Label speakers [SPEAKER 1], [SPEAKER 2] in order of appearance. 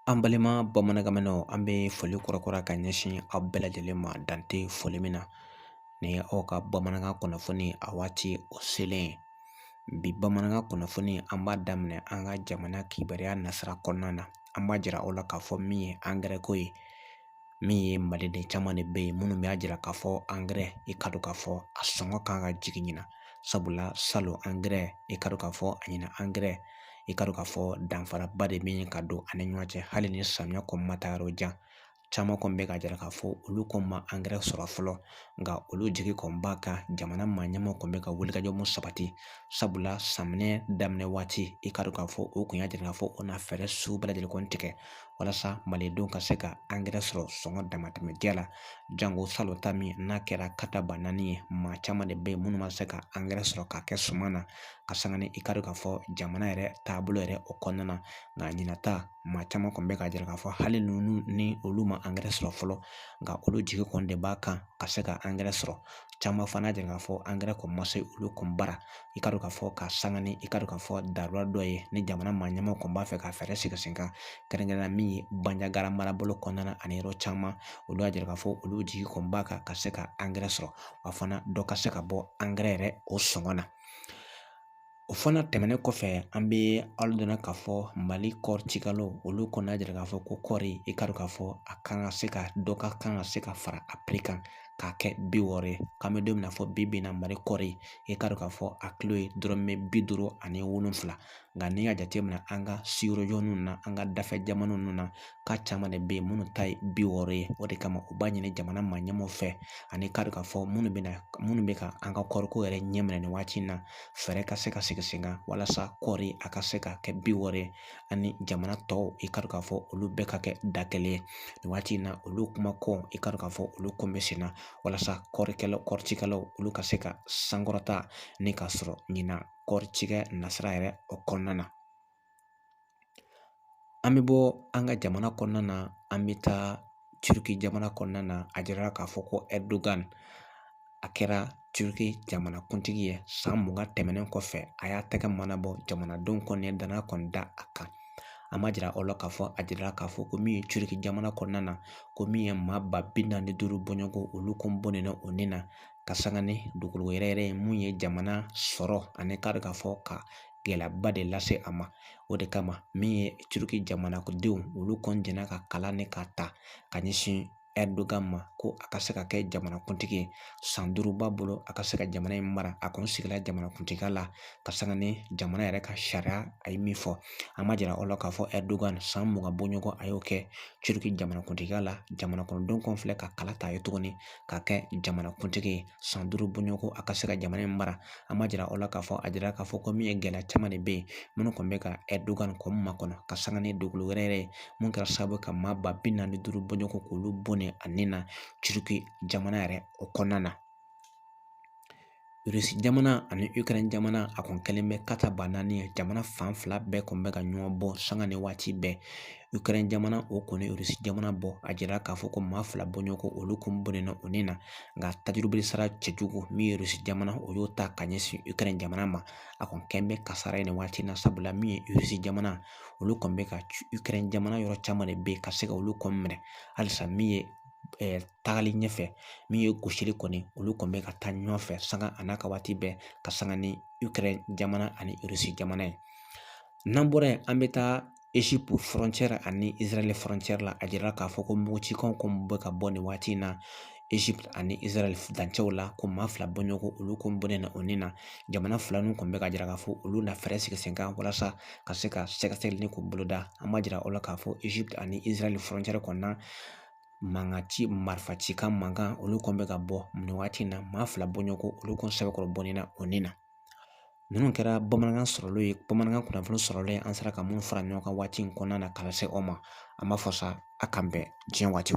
[SPEAKER 1] An balima bamanankanmɛnnaw an bɛ foli kurakura ka ɲɛsin aw bɛɛ lajɛlen ma dan tɛ foli min na ni aw ka bamanankan kunnafoni a waati o selen ye bi bamanankan kunnafoni an b'a daminɛ an ka jamana kibaruya nasira kɔnɔna na an b'a jira aw la k'a fɔ min ye angɛrɛ ko ye min ye maliden caman de bɛ yen minnu b'a jira k'a fɔ angɛrɛ i ka dɔn k'a fɔ a sɔngɔ kan ka jigin ɲina sabula salon angɛrɛ i ka dɔn k'a fɔ a ɲina angɛrɛ i ka dɔn k'a fɔ danfaraba de bɛ ka don ani ɲɔgɔn cɛ hali ni samiya kɔni ma taa yɔrɔ jan caman kɔni bɛ ka jira k'a fɔ olu kɔni ma angɛrɛ sɔrɔ fɔlɔ nka olu jigi kɔni b'a kan jamana maa ɲɛmaaw kɔni bɛ ka wulikajɔ mun sabati sabula samiyɛ daminɛ waati i ka dɔn k'a fɔ o kun y'a jira k'a fɔ o na fɛɛrɛ sugu bɛɛ lajɛlen kɔni tigɛ walasa malidenw ka se ka angɛrɛ sɔrɔ sɔngɔ damatɛmɛ jɛ la jango salon ta min n'a kɛra ka taa ba naani ye maa caman de bɛ yen minnu ma se ka angɛrɛ sɔrɔ k'a kɛ suman na ka sanga ni i ka dɔn k'a fɔ jamana yɛrɛ taabolo yɛrɛ o kɔnɔna na nka ɲina ta maa caman kɔni bɛ ka jira k'a fɔ hali ni olu ma angɛrɛ sɔrɔ fɔlɔ nka olu jigi kɔni de b'a kan ka se ka angɛrɛ sɔrɔ caman fana jira k'a fɔ angɛrɛ kɔni ma se olu kɔni bara i ka dɔn k'a fɔ ka sanga ni i ka dɔn k'a fɔ daba dɔ ye ni jamana maa ɲɛmaaw kɔni b'a fɛ ka fɛɛrɛ sigi sen kan kɛrɛnkɛrɛnnenya min ye banjagara marabolo kɔnɔna na ani yɔrɔ caman olu y'a jira k'a fɔ olu jigi kɔni b'a kan ka se ka angɛrɛ sɔrɔ wa fana dɔ ka se ka bɔ angɛrɛ yɛrɛ o sɔngɔ na o fana tɛmɛnen kɔfɛ an bɛ aw dɔnna k'a fɔ mali kɔɔri cikɛlaw olu kɔni y'a jira k'a fɔ ko kɔɔri i ka dɔn k'a fɔ a kan ka se ka dɔ ka kan ka se ka fara a piri kan k'a kɛ bi wɔɔrɔ ye k'an bɛ don min na fɔ bi in na mali kɔɔri i k'a dɔn k'a fɔ a kilo ye dɔrɔmɛ bi duuru ani wolonfila nka n'i y'a jateminɛ an ka sigiɲɔgɔn ninnu na an ka dafɛ jamana ninnu na k'a caman de bɛ yen minnu ta ye bi wɔɔrɔ ye o de kama u b'a ɲini jamana maa ɲɛmaaw fɛ ani k'a dɔn k'a fɔ minnu bɛ ka an ka kɔɔriko yɛrɛ ɲɛ minɛ nin waati in na fɛɛrɛ ka se ka sigi sen kan walasa kɔɔri a ka se ka kɛ bi wɔɔrɔ ye ani jamana tɔw i ka dɔn k'a fɔ olu bɛɛ ka kɛ da kelen ye nin waati in na olu kuma kow i ka dɔn k'a fɔ olu kɔni bɛ sen na walasa kɔɔricikɛlaw olu ka se ka sankɔrɔta ni ka sɔrɔ ɲina kɔɔri cikɛ nasira yɛrɛ o kɔnɔna na an bɛ bɔ an ka jamana kɔnɔna na an bɛ taa turiki jamana kɔnɔna na a jirala k'a fɔ ko Erdogan a kɛra turiki jamanakuntigi ye san mugan tɛmɛnen kɔfɛ a y'a tɛgɛ mana bɔ jamanadenw kɔni ye dannaya kɔni da a kan an b'a jira aw la k'a fɔ a jirala k'a fɔ ko min ye turiki jamana kɔnɔna na ko min ye maa ba bi naani ni duuru bɔɲɔgɔnko olu kun bɔnɛna u ni na ka sanga ni dugukolo yɛrɛyɛrɛ ye min ye jamana sɔrɔ ani k'a dɔn k'a fɔ ka gɛlɛyaba de lase a ma o de kama min ye turiki jamana kɔnɔdenw olu kɔni jɛnna ka kala nin k'a ta ka ɲɛsin ɛrdogan ma ko a ka se ka kɛ jamanakuntigi ye san duuru b'a bolo a ka se ka jamana in mara a kɔni sigila jamanakuntigiya la ka sanga ni jamana yɛrɛ ka sariya a ye min fɔ an ma jira aw la k'a fɔ ɛrdogan san mugan bɔɲɔgɔn a y'o kɛ turiki jamanakuntigiya la jamana kɔnɔdenw kɔni filɛ ka kala ta a ye tuguni ka kɛ jamanakuntigi ye san duuru bɔɲɔgɔnko a ka se ka jamana in mara an ma jira aw la k'a fɔ a jira k'a fɔ ko min ye gɛlɛya caman de bɛ yen minnu kɔni bɛ ka ɛrdogan kɔni makɔnɔ ka sanga ni dugukolo yɛrɛyɛrɛ ye min kɛra sababu ye ka maa ba bi naani duuru bɔɲɔgɔnko k'olu bɔnɛ a ni na turiki jamana yɛrɛ o kɔnɔna na irisi jamana ani ikɛrɛn jamana a kɔni kɛlen bɛ kata ba naani ye jamana fan fila bɛɛ kɔni bɛ ka ɲɔgɔn bon sanga ni waati bɛɛ Ukraine jamana o kɔni Russie jamana bon a jira k'a fɔ ko maa fila bɔɲɔgɔnko olu kɔni bɔnɛna u ni na nka tajurubili sara cɛjugu min ye Russie jamana o y'o ta ka ɲɛsin Ukraine jamana ma a kɔni kɛlen bɛ kasara ye nin waati in na sabula min ye Russie jamana olu kɔni bɛ ka Ukraine jamana yɔrɔ caman de bɛ yen ka se ka olu kɔni minɛ halisa min ye tagali ɲɛfɛ min ye gosili kɔni olu kɔni bɛ ka taa ɲɔgɔn fɛ sanga a n'a ka waati bɛɛ ka sanga ni Ukraine jamana ani Russie jamana ye n'an bɔra yen an bɛ taa ani izarali frontière la a jira k'a fɔ ko mugucikanw kɔni bɛ ka bɔ nin waati in na Egypte ani izarali dancɛw la ko maa fila bɔɲɔgɔnko olu kɔni bɔnɛna u ni na jamana fila ninnu kɔni bɛ ka jira k'a fɔ olu na fɛɛrɛ sigi sen kan walasa ka se ka sɛgɛsɛgɛli ni k'u boloda an ma jira aw la k'a fɔ Egypte ani izarali frontière kɔnɔna mankan ci marifacikan mankan olu kɔni bɛ ka bɔ nin waati in na maa fila bɔɲɔgɔnko olu kɔni sɛbɛkɔrɔ bɔnɛna u ni na ninnu kɛra bamanankan sɔrɔlenw ye bamanankan kunnafoni sɔrɔlenw ye an sera ka minnu fara ɲɔgɔn kan waati in kɔnɔna na ka lase aw ma an b'a fɔ sa a k'an bɛn diɲɛ waati